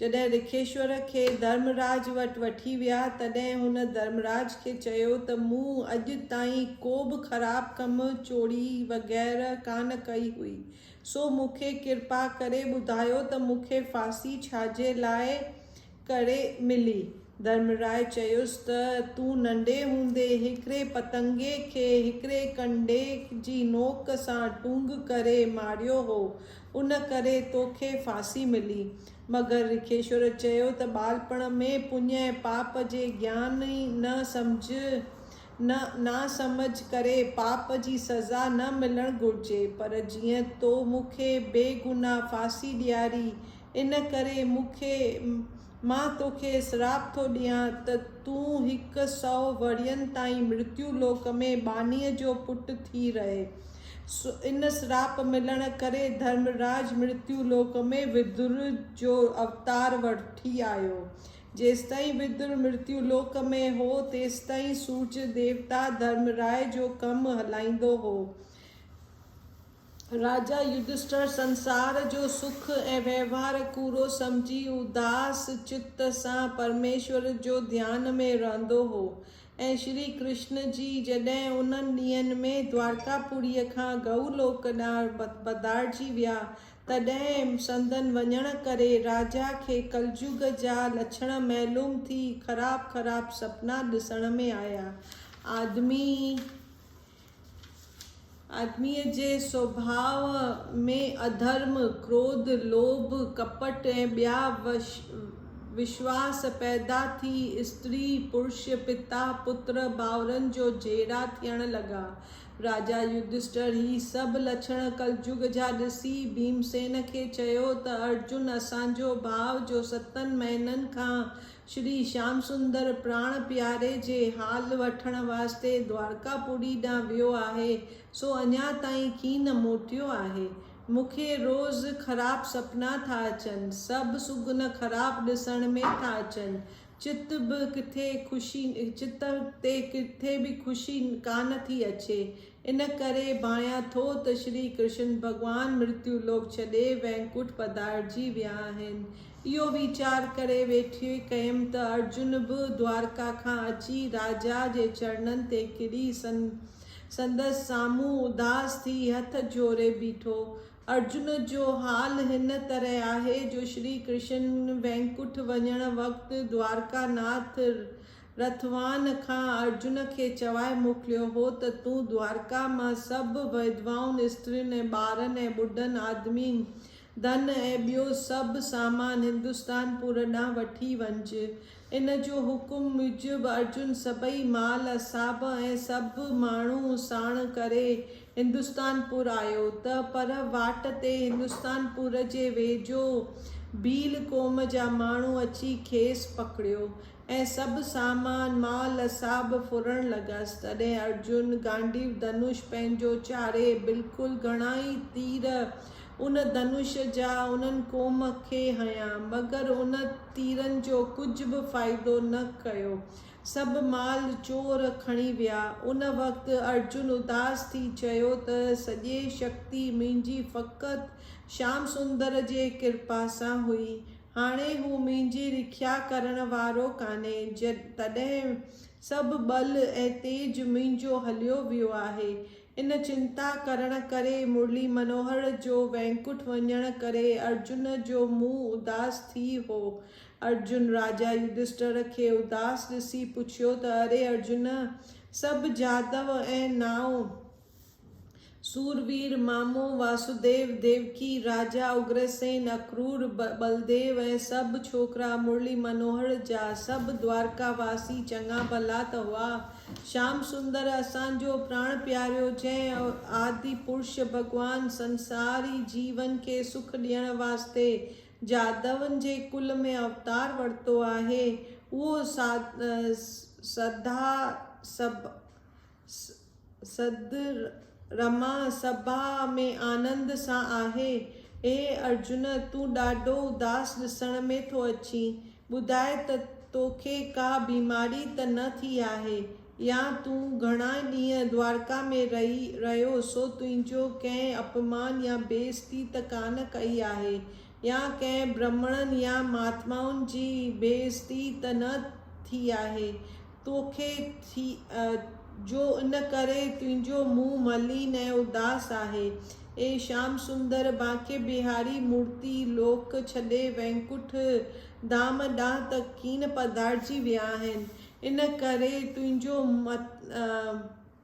جڏهن رکيشور کي ڌرمراج وٽ وٺي ويا، تڏهن هن ڌرمراج کي چيو ته مون اڄ تائين ڪو به خراب ڪم، چوري وغيره ڪانه ڪئي هئي، سو مون کي ڪرپا ڪري ٻڌايو ته مون کي ڦاسي ڇاجي لاء ڪري ملي؟ ڌرمراء چيس ته تون ننڍي هوندي هڪڙي پتنگي کي هڪڙي ڪنڊي جي نوڪ سان ٽونگ ڪري ماريو هو، ان ڪري توکي ڦاسي ملي. مگر رکيشور چيو ته ٻالپڻ ۾ پڃ ۽ پاپ جي گيان ئي نه سمجهه نه ناسمجهه ڪري پاپ جي سزا نه ملڻ گهرجي پر جيئن تو مون کي بي گناهه ڦاسي ڏياري ان ڪري مون کي مان توکي سراپ ٿو ڏيان ته تون هڪ سئو ورهين تائين مرتيو لوڪ ۾ ٻانهيء جو پٽ ٿي رهين. ان سراپ ملڻ ڪري ڌرمراج مرتيو لوڪ ۾ ودر جو اوتار وٺي آيو. جيستائين ودر مرتيو لوڪ ۾ هو، تيستائين سورج ديوتا ڌرمراء جو ڪم هلائيندو هو. راجا يڌشٽر سنسار جو سک ۽ وهنوار ڪوڙو سمجهي اداس چت سان پرميشور جو ڌيان ۾ رهندو هو ۽ شري ڪرشن جي جڏهن انهن ڏينهن ۾ دوارڪا پوريء کان گئو لوڪ ڏانهن پڌارجي ويا تڏهن سندن وڃڻ ڪري راجا کي ڪلجوڳ جا لڇڻ معلوم ٿي خراب خراب سپنا ڏسڻ ۾ آيا آدمي آدميء جي سوڀاء ۾ اڌرم، ڪروڌ، لوڀ، ڪپٽ ۽ ٻيا وشواس پيدا ٿي استري، پرش، پتا، پتر، ڀائرن جو جهيڙا ٿيڻ لڳا. راجا يڌشٽر هي سڀ لڇڻ ڪلجگ جا ڏسي ڀيمسين کي چيو ته ارجن اسان جو ڀاء جو ستن مهينن کان شري شيام سندر پراڻ پياري جي حال وٺڻ واسطي دوارڪا پوري ڏانهن ويو آهي، سو اڃا تائين ڪين موٽيو آهي. مون کي روز خراب سپنا ٿا اچن، سڀ سگن خراب ڏسڻ ۾ ٿا اچن، چت به ڪٿي خوشي چت تي ڪٿي به خوشي ڪانه ٿي اچي، ان ڪري ڀانيان ٿو ته شري ڪرشن ڀڳوان مرتيو لوڪ ڇڏي وئنڪوٽ پڌارجي ويا آهن. اهو ويچار ڪري ويٺي ڪيم ته ارجن به دوارڪا کان اچي راجا جي چرڻن تي ڪري سندس سامهون اداس ٿي هٿ جوڙي بيٺو. ارجن جو حال هن طرح آهي جو شري ڪرشن وئنڪوٽ وڃڻ وقت دوارڪا ناٿ رٿوان کان ارجن کي چوائي موڪليو هو ته تون دوارڪا مان سڀ وڌوائن، استرين ۽ ٻارن ۽ ٻڍن آدمين، ڌن ۽ ٻيو سڀ سامان هندستان پور ڏانهن وٺي وڃج. ان جو حڪم موجب ارجن سڀئي مال اصحاب ۽ سڀ ماڻهو ساڻ ڪري هندستان پور آيو ته پر واٽ تي هندستان پور جي ويجهو ڀيل قوم جا ماڻهو اچي کيس پڪڙيو ۽ سڀ سامان، مال، ساڀ ڦرڻ لڳس. تڏهن ارجن گانڊيو ڌنوش پنهنجو چاري بلڪل گهڻائي تير ان ڌنوش جا انهن قوم کي هنيا، مگر ان تيرن جو ڪجهه به فائدو نه ڪيو. سڀ مال چور کڻي ويا. ان وقت ارجن اداس ٿي چيو ته سڄي شڪتي منهنجي فقط شيام سندر جي ڪرپا سان هئي. هاڻي هو منهنجي رکيا ڪرڻ وارو ڪانهي، تڏهن سڀ ٻل ۽ تيج منهنجو هليو ويو آهي. ان چنتا ڪرڻ ڪري مرلي منوهر جو وينڪٽ وڃڻ ڪري ارجن جو منهن اداس ٿي هو. ارجن راجا يڌشٽر کي اداس ڏسي پڇيو ته اري ارجن! سڀ جادو ۽ نانء سوربير، مامو واسوديو، ديوڪي، راجا اگرسين، اڪرور، ٻلديو ۽ سڀ ڇوڪرا مرلي منوهر جا سڀ دوارڪا واسي چڱا ڀلا ته هئا. شيام سندر اسان جو پراڻ پياريو جنهن آدي پرش ڀڳوان سنساري جيون کي سک ڏيڻ واسطي جادوئن جي ڪل ۾ اوتار ورتو آهي اهو سڌا سڌ رما سڀاء ۾ آنند سان آهي. اي ارجن! تون ڏاڍو اداس ڏسڻ ۾ ٿو اچين. ٻڌاء ته توکي ڪا بيماري ته نه ٿي آهي؟ يا تون گهڻا ڏينهن دوارڪا ۾ رهي رهيو سو تنهنجو ڪنهن اپمان يا بي عزتي ته ڪانه ڪئي آهي؟ يا ڪنهن برهمڻن يا مهاتمائن جي بي عزتي ته نه ٿي آهي توکي ٿي جو ان ڪري تنهنجو منهن ملين ۽ اداس آهي. اي شيام سندر، بانڪي بهاري مورتي لوڪ ڇڏي وينڪٺ ڌام ڏانهن ته ڪين پڌارجي ويا آهن، ان ڪري تنهنجو